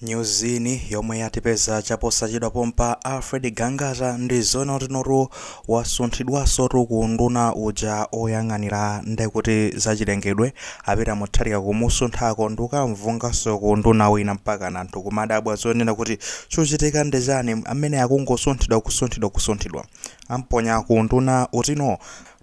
Nyuzi yomwe yatipeza chaposachedwa pompa Alfred Gangata ndi zonena kutinotu wasunthidwanso tu ku unduna uja oyang'anira ndekuti zachilengedwe a Peter Mutharika kumusunthako ndikukamvunganso ku unduna wina mpaka anthu kumadabwa zonena kuti chochitika ndi chani amene akungosunthidwa kusunthidwa kusunthidwa amponya ku unduna utino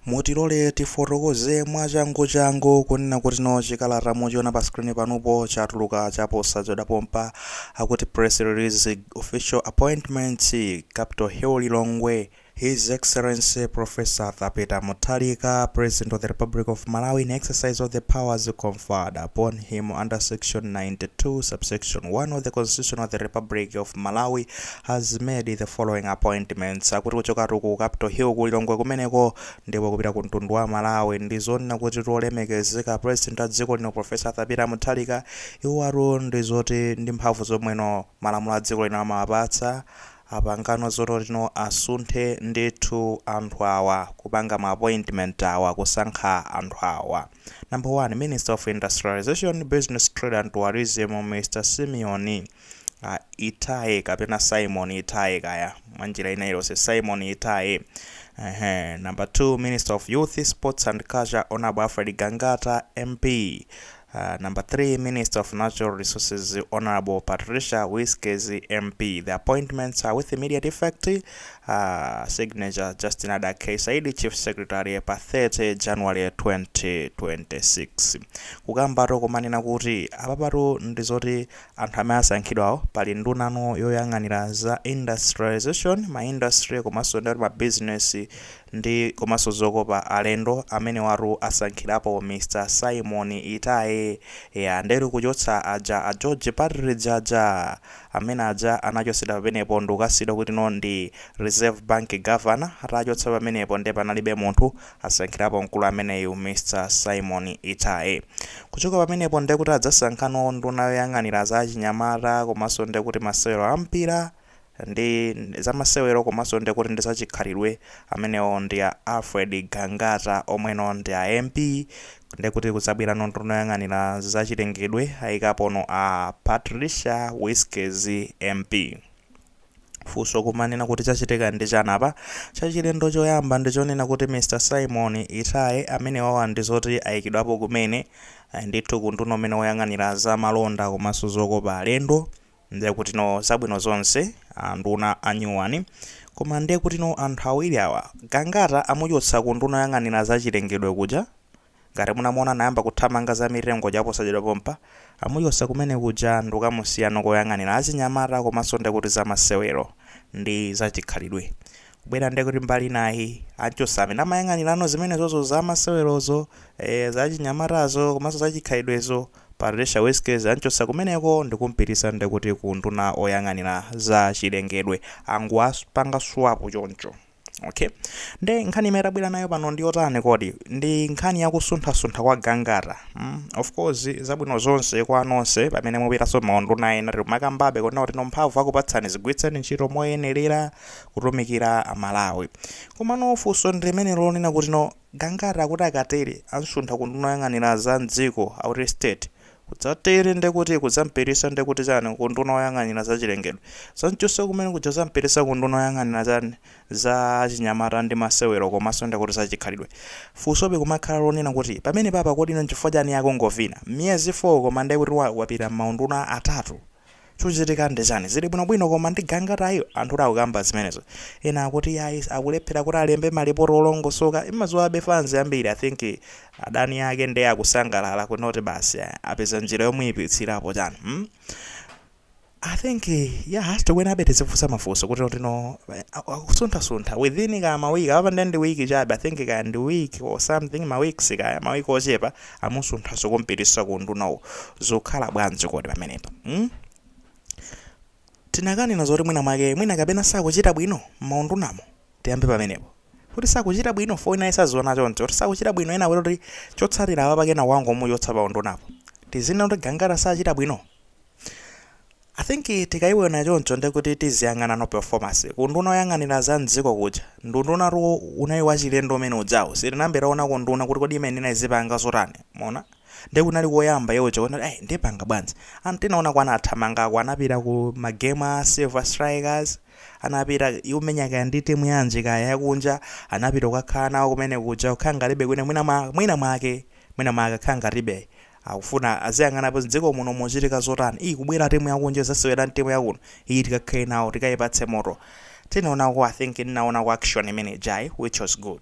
Mutilole tifotokoze mwachanguchangu kunena kuti no chikalata muchiona pa screen panupo chatuluka chaposachedwa pompa akuti press release official appointments Capital Hill Lilongwe His Excellency Prof. Arthur Peter Mutharika, President of the Republic of Malawi, in exercise of the powers conferred upon him under Section 92, Subsection 1 of the Constitution of the Republic of Malawi, has made the following appointments, akuti kuchokatu ku Capital Hill ku Lilongwe kumeneko ndipo kupita ku mtundu wa Malawi ndi zonena kutino olemekezeka president a dziko lino Professor Arthur Peter Mutharika iwowatu ndi zoti ndi mphamvu zomweno malamulo a dziko lino amawapatsa apangano zonena kutino asunthe ndithu anthu awa kupanga ma appointment awa kusankha anthu awa number 1 minister of industrialization business trade and tourism Mr Simon a Itaye kapena Simon Itaye kaya mwanjira ina ilonse Simon Itaye Ehe. Number 2 Minister of Youth, Sports and Culture Honorable Alfred Gangata MP. Uh, number 3 Minister of Natural Resources Honorable Patricia Whiskes MP. The appointments are with immediate effect. Uh, signature Justin Ada K. Saidi Chief Secretary pa 30 January 2026. Kukambatu kumanena kuti apapatu ndi zoti Anthu amene asankhidwawo pali ndunano yoyang'anira za industrialisation, ma industry komanso ndi zoti ma business ndi komanso zokopa alendo amenewotu asankhirapo Mr Simon Itaye ndetu kuchotsa aja a George Partridge aja amene aja anachotsedwa pamenepo ndikukasiyidwa kuti no ndi Reserve Bank Governor atachotsa pamenepo nde panalibe munthu Asankhirapo mkulu ameneyu Mr Simon Itaye. Kuchoka pamenepo ndekuti adzasankhano nduna yoyang'anira za achinyamata komanso ndekuti masewero a mpira ndi zamasewero komanso ndekuti ndi za chikhalidwe amenewo ndi a Alfred Gangata omweno ndi a MP ndekuti kudzabwerano nduna yoyang'anira za chilengedwe ayikapono a Patricia Wiskes MP. Funso kumanena kuti chachitika ndi chani apa? Chachilendo choyamba ndichonena kuti Mr Simon Itaye amenewawa ndizoti ayikidwapo kumene ndithu ku unduna umene woyang'anira za malonda komanso zokopa alendo ndiye kutino zabwino zonse anduna anyuwani koma ndiye kutino anthu awiri awa Gangata amuchotsa ku unduna woyang'anira zachilengedwe kuja Ngati munamuona anayamba kuthamanga za mitengo chaposachedwa pompa, amuchosa kumene kuja ndikukamusiyano koyang'anila achinyamata komaso ndekuti za masewero ndi za chikhalidwe kubwera ndekuti mbali inayi achosa amene amayang'anilano zimenezozo za masewerozo ee za achinyamatazo komaso za chikhalidwezo Patricia Wiskes anchosa kumeneko ndikumpitisa ndekuti ku unduna oyang'anila za chilengedwe angowapanga swap choncho okay nde nkhani imene tabwera nayo pano ndi yotani kodi ndi nkhani yakusunthasuntha kwa gangata mm? of course zabwino zonse kwa nonse pamene mupitanso maunduna ena timakambabe kunena kuti no mphamvu akupatsani zigwiritseni ntchito moyenerera kutumikira amalawi komano funso ndi limenelo lonena kuti no Gangata akuti akatere amsuntha ku nduna oyang'anira za m'dziko akuti State. Kudzatere nde kuti kudzampitirisa nde kuti chani ku nduna oyang'anira za chilengedwe. Kudzamchotsa kumene kuja kudzampitisa ku nduna oyang'anira chani za achinyamata ndi masewero komanso nde kuti za chikhalidwe. Funsobe kumakhala lonena kuti pamenepapa kodi nchifukwa chani akungovina? Miyezi 4 koma nde kuti wapita m'maunduna atatu. Chochitika ndi chani? Zili bwino bwino koma ndi gangatayu? Anthu akukamba zimenezo. Ena akuti yayi akulephera kuti alembe ma report olongosoka. Imasowa fans ambiri. I think adani ake nde akusangalala kuti no basi apeza njira yomuyipitsirapo chani hmm? I think yeah has to winabe tizifunsa mafunso kuti no akusuntha suntha within kaya ma week apa nde ndi week chabe I think kaya ndi week or something ma weeks kaya ma week ochepa amusunthanso kumpititsa ku undunawo zikukhala bwanji kodi pamenepa mm? tinakanena zoti mwina mwake mwina kapena sakuchita bwino maundunamo tiyambe pamenepo kuti sakuchita bwino ifeyo ine sindiziona choncho kuti sakuchita bwino ena kuti chotsatira apa pakena wangu omuchotsa pa undunapo tizinena kuti gangata sachita bwino I think tikayiwona choncho ndekuti tiziyang'anano performance ku unduna oyang'anira za mdziko kuja, ndi undunatu unali wachilendo umene ujawu, sitinayambe tawonako unduna kuti kodi imayenera izipanga zotani, mwaona, nde kunali koyamba iwo uja kuona kuti ai ndipanga bwanji, anthu tinaonako anathamangako anapita ku ma game a Silver Strikers, anapita ikumenya kaya ndi timu yanji kaya yakunja, anapita kukakhala nawo kumene kuja kukhala ngatibe kwina mwina mwa mwina mwake mwina mwake akhala ngatibe Akufuna aziyang'anapo mdziko muno muchitika zotani kubwera team yakunja izasewera ndi team yakuno iyi tikakhale nawo tikaipatse moto tinaonako i think ndinaonako action imene ijayi which was good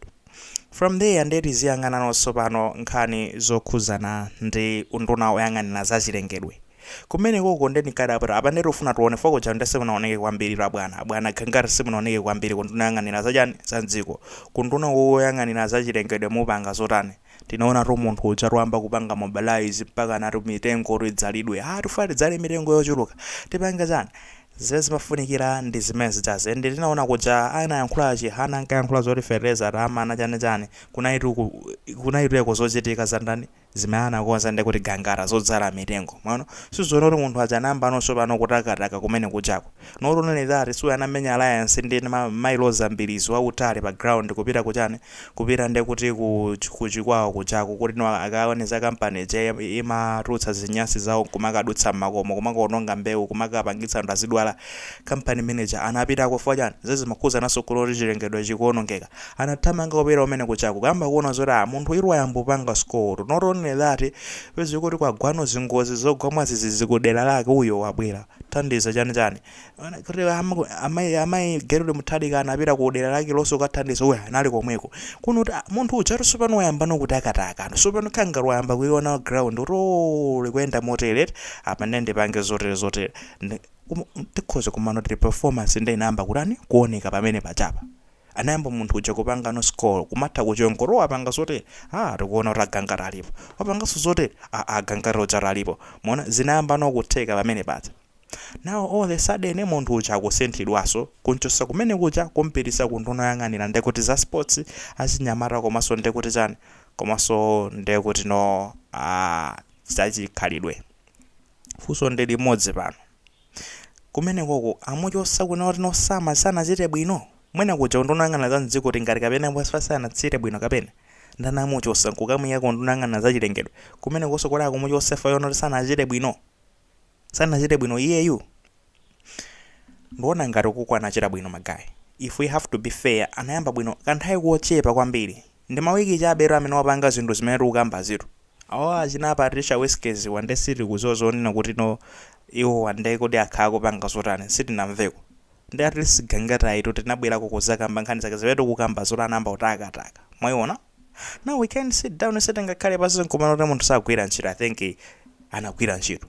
from there nde tiziyang'anano tsopano nkhani zokhuzana ndi unduna oyang'anira zachilengedwe kumenekoko nde ndikadabwapo nde tikufuna tione chifukwa kuja nde simunaoneke kwambiritu abwana Gangata simunaoneke kwambiri kunduna yoyang'anira zachani zamdziko kunduna oyang'anira zachilengedwe mukupanga zotani Tinaonatu munthu uja atayamba kupanga mobilize mpakana ati mitengo oti idzalidwe. Aaa tifuna tidzale mitengo yochuluka. Tipange chani? Zimene zimafunikira ndi zimene zijazi. And tinaona kuja anayankhula Chihana ankayankhula zoti fetereza atimana chani chani. Kunalitu ku kunalitu uko zochitika za ndani? Zimene anakonza ndiye kuti gangata zodzala mitengo. Mwaona? Timaona kuti munthu uja anayambano tsopano kutakataka kumene kujako. Not only that si uyu anamenya alliance ndi Mayi Roza Mbilizi wautali pa ground kupita ku chani? kupita nde kuti ku ku chikwawa kujako kuti no akaone za company ija imatulutsa zinyansi zawo nkumakadutsa mmakomo kumakaononga mbewu kumakapangitsa anthu azidwala company manager anapitako chifukwa chani zez zimakhudzananso kuloti chilengedwe chikuonongeka anathamanga kupita kumene kujako kuyamba kuona zoti ah munthu uyu wayamba kupanga score not only that pezi kuti kwagwano zingozi zogwa mwazizizi kudera lake uyo wabwera thandiza chani chani kuti amayi amayi Gertrude Mutharika anapita ku dera lake lonso kukathandiza uyo anali komweko kuno kuti munthu uja kuti sopano wayamba nokutakataka sopano Gangata wayamba kuiona ground kuti oo likuyenda motere apa ndiye ndipange zotere zotere tikhoza kumanena kuti performance ndiye inayamba kutani kuoneka pamene pajapa anayamba munthu uja kupangano score kumatha kuchonga kuti apanga zotere ah tikuona kuti a Gangata alipo wapanganso zotere ah a Gangata uja alipo mwaona zinayamba nokutheka pamene paja Now all the sudden munthu uja akusinthidwaso kunchosa kumene kuja kumpitisa ku nduna yoyang'anira ndekuti za sports achinyamata komaso ndekuti chani komaso ndekuti no aah zachikhalidwe fuso ndi limodzi pano kumenekoko amuchosa kunena kuti no sama sanachite bwino? Mwina kuja ku nduna yoyang'anira za mdziko tingati kapena chifukwa sanachite bwino kapena? Nde anamuchosa nkukamuyika ku nduna yoyang'anira za chilengedwe kumenekoso kodi akumuchosa chifukwa chonoti sanachite bwino? Sanachite bwino iyeyu? Nduona ngati ukuko anachita bwino ma guy. If we have to be fair anayamba bwino kanthawi kochepa kwambiri. Ndi ma week chabetu amene wapanga zinthu zimene tikukambazitu. Awa achina Patricia Wiskes wa nde sitikudziwa zonena kuti no iwowa nde kodi akhala akupanga zotani sitinamveko. nde at least Gangatayitu tinabwerako kuzakamba nkhani zake zimene tikukamba zoti anayamba kutakataka mwaiona now we can sit down sitingakhale pansi nkumanena kuti munthu sagwira ntchito i think anagwira ntchito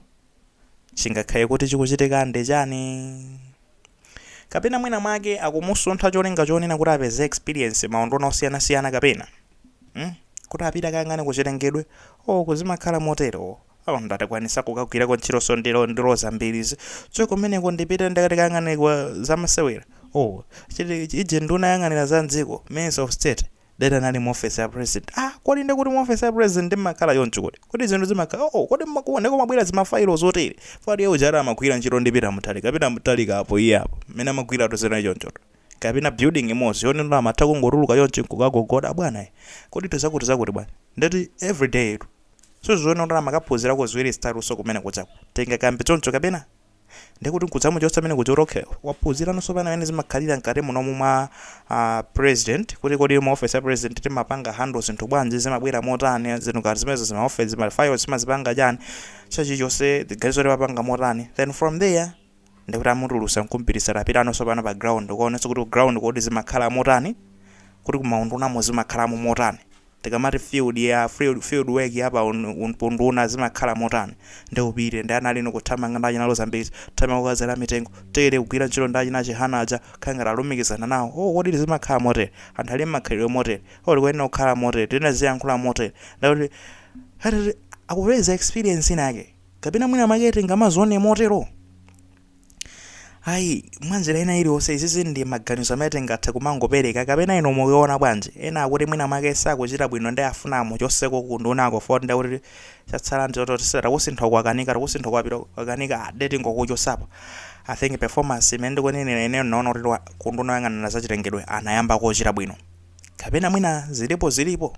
chingakhale kuti chikuchitika ndi chani kapena mwina mwake akumusuntha cholinga chonena kuti apeze experience maunduna osiyanasiyana kapena mm? kuti apita kayang'ane ku chilengedwe o kuti zimakhala motero Oh nde atakwanisa kukagwirako ntchitoso ndi Ro ndi Roza Mbilizi so kumeneko ndipite ndikati kayang'anire kwa zamasewera oh chiti ije nduna yoyang'anira za m'dziko Minister of State ndekuti anali mu ofesi ya president ah kodi nde kuti mu ofesi ya president ndimakhala choncho kodi kodi zinthu zimakhala oh kodi mmakuwa nde kumabwera zimafailo zotere fati iye uja ati amagwira ntchito ndi Peter Mutharika kapena Mutharika apo iye apo mmene amagwira tozera choncho kapena building imodzi yonena kuti amatha kungotuluka choncho nkukagogoda bwana eh, kodi zakuti zakuti bwana ndekuti everyday tu Suziona kuti amakaphuzirako ziwiri zitatunso kumene kujako. Tingakambe choncho kapena? Ndiye kuti nkudzamuchotsa kumene kuja kuti okay waphuzirano sopano mene zimakhalira mkati munomu mwa a president kuti kodi mu office ya president timapanga handle zinthu bwanji zimabwera motani zinthu ngati zimenezo zima office zima files timazipanga chani china chilichonse ziganizo timapanga motani then from there ndikuti amutulusa nkumpititsa tapitanonso pano pa ground ukaonenso kuti ku ground kodi zimakhala motani kuti kumaundunamo zimakhalamo motani tikamati field ya field, field work ya pa un- un- unduna zimakhala motani ndi upite ndi analinu kuthamanga ndi achina Lozambisi thamanga kukadzala mitengo tere kugwira ntchito ndi achina Chihana aja Gangata alumikizana nawo oh kodi zimakhala motere anthu ali makhalidwe motere oh ndikuyenera kukhala motere tinaziyankhula motere ndekuti akupeza experience inake kapena mwina mwake tingamazione motero ayi mwanjira ina iliyonse izizi ndi maganizo amene tingathe kumangopereka kapena inu mukuiona bwanji ena akuti mwina mwake sakuchita bwino ndi afuna amuchoseko kundunako poti ndi kuti chatsala nditototisera takusintha kwakanika takusintha kwapita kwakanika nde tingokuchotsapo i think performance imene ndikunenera ineyo ndinaona kuti wa- kunduna yoyang'anira zachilengedwe anayamba kuchita bwino kapena mwina zilipo zilipo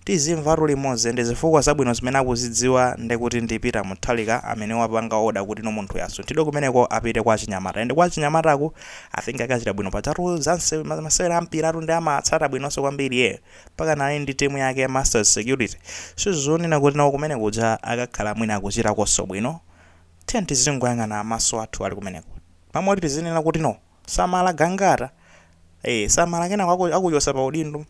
tizimvatu limodzi ndi zifukwa zabwino zimene akuzidziwa ndekuti ndi Peter Mutharika amene wapanga order kuti no munthuyu asunthidwe kumeneko apite kwa achinyamata and kwa achinyamataku I think akachita bwino pajatu za nse- ma- masewera a mpiratu ndi amatsata bwinonso kwambiri iye mpaka nali ndi timu yake ya Masters Security sizonena kuti nawo kumene kuja akakhala mwina akuchitakonso bwino tiye tizingoyang'ana maso athu ali kumeneko mwamwe kuti tizinena kuti no samala Gangata eh samala kenako aku- akuchosa pa udindo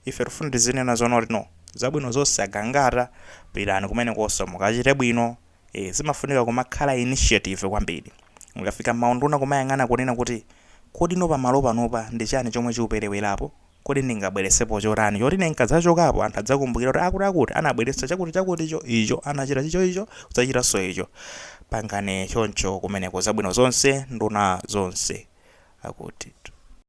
Ife tifuna tizinena zoona kuti no zabwino zonse a Gangata pitani kumenekonso mukachite bwino ee zimafunika kumakhala initiative kwambiri mukafika mmaunduna kumayang'ana kunena kuti kodi no pamalo panopa ndi chani chomwe chikuperewerapo kodi ndingabweretsepo chotani choti ine nkadzachokapo anthu adzakumbukire kuti akuti akuti anabweretsa chakuti chakuticho icho anachita icho icho kudzachitanso icho pangani choncho kumeneko zabwino zonse nduna zonse akuti.